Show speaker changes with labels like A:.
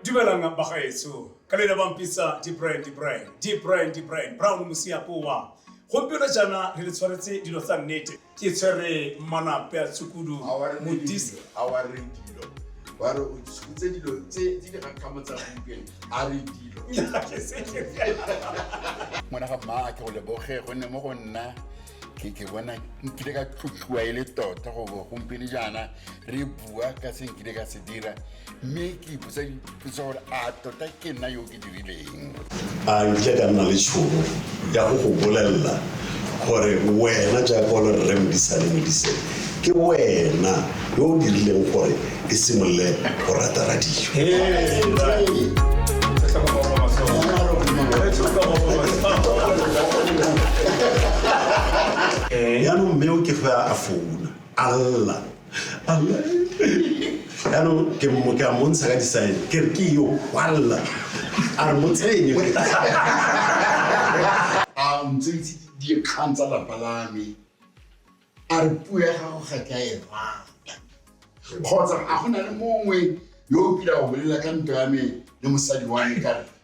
A: dumelang bagaetso ka le lebang pizza di brand di brand di brand di brand brown mosiapowa gompieno jaana re le tshwaretse dilo tsa nnete ke tshwere manape a tshukudu modise
B: ba re o tshutse dilo tse di dikgakgamo tsa gompieno a re dilo
C: ngwana ga mmaa ke go leboge gonne mo go nna ke bona nkile ka tlotliwa e le tota go bo gompieno jaana re bua ka se nkile ka se dira mme ke ipotsa dipotsa gore a tota ke nna yo ke dirileng a nkile
D: ka nna le tšhono ya go go bolelela gore wena jaaka o le rre modisane modise ke wena yo o dirileng gore e simolole go rata radio yaanong mme o ke fa a founa a lla yaanong ke mo- ke a montsha ka disaene ke re ke yo kwalela a re mo tsenye
B: a ntseitse dikgang tsa lapa la me a re puo ya gago ga ke a e rata kgotsa a go na le mongwe yo o kile a go bolela ka ntwa ya me le mosadi wa me ka re